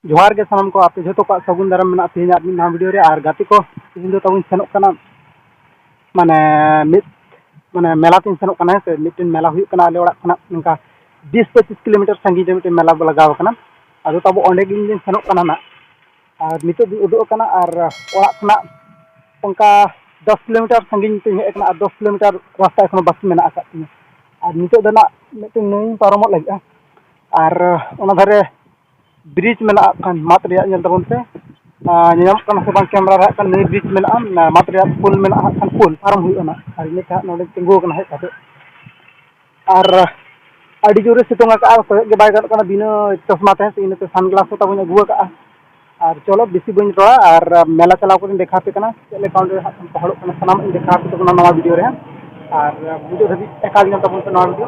ᱡᱚᱦᱟᱨ ᱜᱮ ᱥᱟᱱᱟᱢ ᱠᱚ ᱟᱯᱮ ᱡᱷᱚᱛᱚ ᱠᱚᱣᱟᱜ ᱥᱟᱹᱜᱩᱱ ᱫᱟᱨᱟᱢ ᱢᱮᱱᱟᱜᱼᱟ ᱛᱮᱦᱮᱧᱟᱜ ᱢᱤᱫ ᱱᱟᱣᱟ ᱵᱷᱤᱰᱤᱭᱳ ᱨᱮ ᱟᱨ ᱜᱟᱛᱮ ᱠᱚ ᱛᱮᱦᱮᱧ ᱫᱚ ᱛᱟᱵᱚᱱ ᱥᱮᱱᱚᱜ ᱠᱟᱱᱟ ᱢᱟᱱᱮ ᱢᱤᱫ ᱢᱟᱱᱮ ᱢᱮᱞᱟ ᱛᱤᱧ ᱥᱮᱱᱚᱜ ᱠᱟᱱᱟ ᱦᱮᱸ ᱥᱮ ᱢᱤᱫᱴᱮᱱ ᱢᱮᱞᱟ ᱦᱩᱭᱩᱜ ᱠᱟᱱᱟ ᱟᱞᱮ ᱚᱲᱟᱜ ᱠᱷᱚᱱᱟᱜ ᱱᱚᱝᱠᱟ ᱵᱤᱥ ᱯᱚᱸᱪᱤᱥ ᱠᱤᱞᱳᱢᱤᱴᱟᱨ ᱥᱟᱺᱜᱤᱧ ᱨᱮ ᱢᱤᱫᱴᱮᱱ ᱢᱮᱞᱟ ᱞᱟᱜᱟᱣ ᱠᱟᱱᱟ ᱟᱫᱚ ᱛᱟᱵᱚ ᱚᱸᱰᱮ ᱜᱮ ᱤᱧ ᱫᱚᱧ ᱥᱮᱱᱚᱜ ᱠᱟᱱᱟ ᱱᱟᱜ ᱟᱨ ᱱᱤᱛᱚᱜ ᱫᱚᱧ ᱩᱰᱩᱠ ᱟᱠᱟᱱᱟ ᱟᱨ ᱚᱲᱟᱜ ᱠᱷᱚᱱᱟᱜ ᱚᱱᱠᱟ ᱫᱚᱥ ᱠᱤᱞᱳᱢᱤᱴᱟᱨ ᱥᱟᱺᱜᱤᱧ ᱛᱤᱧ ᱦᱮᱡ ᱟᱠᱟᱱᱟ ᱟᱨ ᱫᱚᱥ ᱠᱤᱞᱳᱢᱤᱴᱟᱨ ᱨᱟᱥᱛᱟ ᱮᱠᱷᱚᱱᱳ ᱵᱟᱹᱠᱤ ᱢᱮᱱᱟᱜ ᱟᱠᱟᱫ ᱛᱤᱧᱟᱹ ᱟᱨ ᱱᱤᱛᱚᱜ ᱫᱚ ᱱᱟᱜ ᱢᱤᱫᱴᱮᱱ ᱱᱟᱹᱭᱤᱧ ᱯᱟᱨᱚᱢᱚᱜ ᱞᱟᱹᱜᱤᱫᱼᱟ ᱟᱨ ᱚᱱᱟ ᱫᱷᱟᱨᱮ ᱵᱨᱤᱡᱽ ᱢᱮᱱᱟᱜᱼᱟ ᱦᱟᱸᱜ ᱠᱷᱟᱱ ᱢᱟᱫ ᱨᱮᱭᱟᱜ ᱧᱮᱞ ᱛᱟᱵᱚᱱ ᱯᱮ ᱟᱨ ᱧᱮᱞ ᱧᱟᱢᱚᱜ ᱠᱟᱱᱟ ᱥᱮ ᱵᱟᱝ ᱠᱮᱢᱨᱟ ᱨᱮ ᱦᱟᱸᱜ ᱠᱷᱟᱱ ᱱᱤᱭᱟᱹ ᱵᱨᱤᱡᱽ ᱢᱮᱱᱟᱜᱼᱟ ᱢᱟᱫ ᱨᱮᱭᱟᱜ ᱯᱳᱞ ᱢᱮᱱᱟᱜᱼᱟ ᱦᱟᱸᱜ ᱠᱷᱟᱱ ᱯᱳᱞ ᱯᱟᱨᱚᱢ ᱦᱩᱭᱩᱜᱼᱟ ᱦᱟᱸᱜ ᱟᱨ ᱤᱱᱟᱹ ᱠᱷᱟᱱ ᱱᱚᱰᱮ ᱛᱤᱸᱜᱩ ᱟᱠᱟᱱᱟ ᱦᱮᱡ ᱠᱟᱛᱮᱫ ᱟᱨ ᱟᱹᱰᱤ ᱡᱳᱨᱮ ᱥᱤᱛᱩᱝ ᱟᱠᱟᱫᱼᱟ ᱠᱚᱭᱚᱜ ᱜᱮ ᱵᱟᱭ ᱜᱟᱱᱚᱜ ᱠᱟᱱᱟ ᱵᱤᱱᱟᱹ ᱪᱚᱥᱢᱟ ᱛᱮ ᱤᱱᱟᱹ ᱛᱮ ᱥᱟᱱ ᱜᱞᱟᱥ ᱦᱚᱸ ᱛᱟᱵᱚᱱ ᱟᱹᱜᱩ ᱟᱠᱟᱫᱼᱟ ᱟᱨ ᱪᱚᱞᱚ ᱵᱮᱥᱤ ᱵᱟᱹᱧ ᱨᱚᱲᱟ ᱟᱨ ᱢᱮᱞᱟ ᱪᱟᱞᱟᱣ ᱠᱟᱛᱮᱫ ᱤᱧ ᱫᱮᱠᱷᱟᱣ ᱟᱯᱮ ᱠᱟᱱᱟ ᱪᱮᱫ ᱞᱮᱠᱟ ᱚᱸᱰᱮ ᱦᱟᱸᱜ ᱠᱷᱟᱱ ᱦᱚᱲᱚᱜ ᱠᱟᱱᱟ ᱥᱟᱱᱟᱢᱟᱜ ᱤᱧ ᱫᱮᱠᱷᱟᱣ ᱟᱯᱮ ᱠᱟᱱᱟ ᱱᱚᱣᱟ ᱵᱷᱤᱰᱭᱳ ᱨᱮ ᱟᱨ ᱢᱩᱪᱟᱹᱫ ᱫᱷᱟᱹᱵᱤᱡ ᱮᱠᱟᱞ ᱧᱮᱞ ᱛᱟᱵᱚᱱ ᱯᱮ ᱱᱚᱣᱟ ᱵᱷᱤᱰᱭᱳ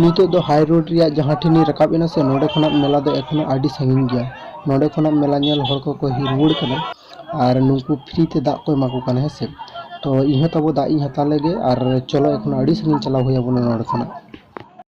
ᱱᱤᱛᱚᱜ ᱫᱚ ᱦᱟᱭ ᱨᱳᱰ ᱨᱮᱭᱟᱜ ᱡᱟᱦᱟᱸ ᱴᱷᱮᱱᱤᱧ ᱨᱟᱠᱟᱵ ᱮᱱᱟ ᱥᱮ ᱱᱚᱰᱮ ᱠᱷᱚᱱᱟᱜ ᱢᱮᱞᱟ ᱫᱚ ᱮᱠᱷᱚᱱᱚ ᱟᱹᱰᱤ ᱥᱟᱺᱜᱤᱧ ᱜᱮᱭᱟ ᱱᱚᱰᱮ ᱠᱷᱚᱱᱟᱜ ᱢᱮᱞᱟ ᱧᱮᱞ ᱦᱚᱲ ᱠᱚᱠᱚ ᱦᱮᱡ ᱨᱩᱣᱟᱹᱲ ᱠᱟᱱᱟ ᱟᱨ ᱱᱩᱠᱩ ᱯᱷᱨᱤ ᱛᱮ ᱫᱟᱜ ᱠᱚ ᱮᱢᱟ ᱠᱚ ᱠᱟᱱᱟ ᱦᱮᱸ ᱥᱮ ᱛᱚ ᱤᱧ ᱦᱚᱸ ᱛᱟᱵᱚ ᱫᱟᱜ ᱤᱧ ᱦᱟᱛᱟᱣ ᱞᱮᱜᱮ ᱟᱨ ᱪᱚᱞᱚ ᱮᱠᱷᱚᱱ ᱟᱹᱰᱤ ᱥᱟᱺᱜᱤᱧ ᱪᱟᱞᱟᱣ ᱦᱩᱭ ᱟᱵᱚᱱᱟ ᱱᱚᱰᱮ ᱠᱷᱚᱱᱟᱜ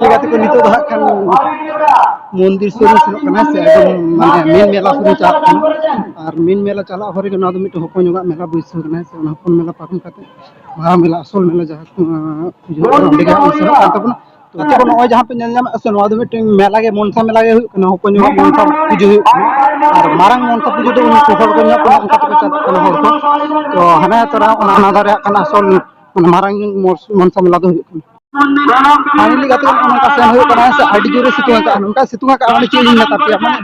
ᱞᱮᱠᱟᱛᱮ ᱠᱚ ᱱᱤᱛᱚᱜ ᱫᱚ ᱦᱟᱸᱜ ᱠᱷᱟᱱ ᱢᱚᱱᱫᱤᱨ ᱥᱩᱨ ᱨᱮ ᱥᱮᱱᱚᱜ ᱠᱟᱱᱟ ᱥᱮ ᱮᱠᱫᱚᱢ ᱢᱟᱱᱮ ᱢᱮᱱ ᱢᱮᱞᱟ ᱥᱩᱨ ᱪᱟᱞᱟᱜ ᱠᱟᱱᱟ ᱟᱨ ᱢᱮᱱ ᱢᱮᱞᱟ ᱪᱟᱞᱟᱜ ᱦᱚᱨ ᱨᱮᱜᱮ ᱱᱚᱣᱟ ᱫᱚ ᱢᱤᱫᱴᱮᱱ ᱦᱚᱯᱚᱱ ᱧᱚᱜᱟᱜ ᱢᱮᱞᱟ ᱵᱟᱹᱭᱥᱟᱹᱣ ᱠᱟᱱᱟ ᱥᱮ ᱚᱱᱟ ᱦᱚᱯᱚᱱ ᱢᱮᱞᱟ ᱯᱟᱨᱚᱢ ᱠᱟᱛᱮ ᱢᱟᱨᱟᱝ ᱢᱮᱞᱟ ᱟᱥᱚᱞ ᱢᱮᱞᱟ ᱡᱟᱦᱟᱸ ᱠᱚ ᱚᱸᱰᱮ ᱜᱮ ᱥᱮᱱᱚᱜ ᱠᱟᱱ ᱛᱟᱵᱚᱱᱟ ᱱᱤᱛᱚᱜ ᱫᱚ ᱱᱚᱜᱼᱚᱭ ᱡᱟᱦᱟᱸ ᱯᱮ ᱧᱮᱞ ᱧᱟᱢᱮᱫ ᱥᱮ ᱱᱚᱣᱟ ᱫᱚ ᱢᱤᱫᱴᱮᱱ ᱢᱮᱞᱟ ᱜᱮ ᱢᱚᱱᱥᱟ ᱢᱮᱞᱟ ᱜᱮ ᱦᱩᱭᱩᱜ ᱠᱟᱱᱟ ᱦᱚᱯᱚᱱ ᱧᱚᱜ ᱢᱚᱱᱥᱟ ᱯᱩᱡᱟᱹ ᱦᱩᱭᱩᱜ ᱠᱟᱱᱟ ᱟᱨ ᱢᱟᱨᱟᱝ ᱢᱚᱱᱥᱟ ᱯᱩᱡᱟᱹ ᱫᱚ ᱩᱱᱠᱩ ᱦᱚᱲ ᱠᱚ ᱧᱮᱞᱚᱜ ᱠᱟᱱᱟ ᱚᱱᱠᱟ ᱛᱮᱠᱚ ᱪᱟᱞᱟᱜ ᱠᱟᱱᱟ ᱦᱚᱲ ᱠᱚ ᱛᱚ ᱦᱟᱱᱮ ᱛᱚᱨᱟ ᱚᱱᱟ ᱦᱟᱱᱟ ᱫᱷᱟᱨᱮ ᱦᱟᱸᱜ ᱠᱟᱱᱟ ᱟᱥᱚᱞ ᱢᱟᱨᱟᱝ ᱢᱚᱱᱥᱟ ᱢᱮᱞᱟ ᱫᱚ ᱦᱩᱭᱩᱜ ᱠᱟᱱᱟ ᱯᱷᱟᱭᱱᱟᱞᱤ ᱜᱟᱛᱮ ᱠᱚ ᱱᱚᱝᱠᱟ ᱥᱮᱱ ᱦᱩᱭᱩᱜ ᱠᱟᱱᱟ ᱥᱮ ᱟᱹᱰᱤ ᱡᱳᱨᱮ ᱥᱤᱛᱩᱝ ᱟᱠᱟᱫᱼᱟ ᱱᱚᱝᱠᱟ ᱥᱤᱛᱩᱝ ᱟᱠᱟᱫᱼᱟ ᱢᱟᱱᱮ ᱪᱮᱫ ᱤᱧ ᱢᱮᱛᱟ ᱯᱮᱭᱟ ᱢᱟᱱᱮ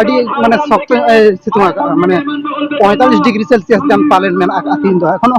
ᱟᱹᱰᱤ ᱢᱟᱱᱮ ᱥᱚᱠᱛᱚ ᱧᱚᱜ ᱮ ᱥᱤᱛᱩᱝ ᱟᱠᱟᱫᱼᱟ ᱢᱟᱱᱮ ᱯᱚᱸᱭᱛᱟᱞᱞᱤᱥ ᱰᱤᱜᱽᱨᱤ ᱥᱮᱞᱥᱤᱭᱟᱥ ᱜᱟᱱ ᱯᱟᱞᱮᱱ ᱢᱮᱱᱟᱜ ᱟᱠᱟᱫᱼᱟ ᱛᱮᱦᱮᱧ ᱫᱚ ᱮᱠᱷᱚᱱᱳ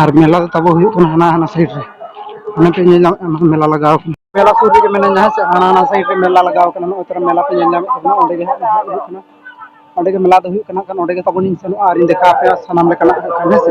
ᱟᱨ ᱢᱮᱞᱟ ᱫᱚ ᱛᱟᱵᱚ ᱦᱩᱭᱩᱜ ᱠᱟᱱᱟ ᱦᱟᱱᱟ ᱦᱟᱱᱟ ᱥᱟᱭᱤᱰ ᱨᱮ ᱚᱱᱟ ᱯᱮ ᱧᱮᱞ ᱧᱟᱢᱮᱫ ᱠᱟᱱᱟ ᱢᱮᱞᱟ ᱞᱟᱜᱟᱣ ᱠᱟᱱᱟ ᱢᱮᱞᱟ ᱥᱩᱨ ᱨᱮᱜᱮ ᱢᱮᱱᱟᱜᱼᱟ ᱦᱮᱸ ᱥᱮ ᱦᱟᱱᱟ ᱦᱟᱱᱟ ᱥᱟᱭᱤᱰ ᱨᱮ ᱢᱮᱞᱟ ᱞᱟᱜᱟᱣ ᱠᱟᱱᱟ ᱱᱚᱜᱼᱚᱭ ᱛᱚᱨᱟ ᱢᱮᱞᱟ ᱯᱮ ᱧᱮᱞ ᱧᱟᱢᱮᱫ ᱛᱟᱵᱚᱱᱟ ᱚᱸᱰᱮ ᱜᱮ ᱦᱟᱸᱜ ᱱᱟᱦᱟᱜ ᱦᱩᱭᱩᱜ ᱠᱟᱱᱟ ᱚᱸᱰᱮ ᱜᱮ ᱢᱮᱞᱟ ᱫᱚ ᱦᱩᱭᱩᱜ ᱠᱟᱱᱟ ᱠᱷᱟᱱ ᱚᱸᱰᱮ ᱜᱮ ᱛᱟᱵᱚᱱᱤᱧ ᱥᱮᱱᱚᱜᱼᱟ ᱟᱨᱤᱧ ᱫᱮᱠᱷᱟᱣ ᱟᱯᱮᱭᱟ ᱥᱟᱱᱟᱢ ᱞᱮᱠᱟᱱᱟᱜ ᱦᱮᱸ ᱥᱮ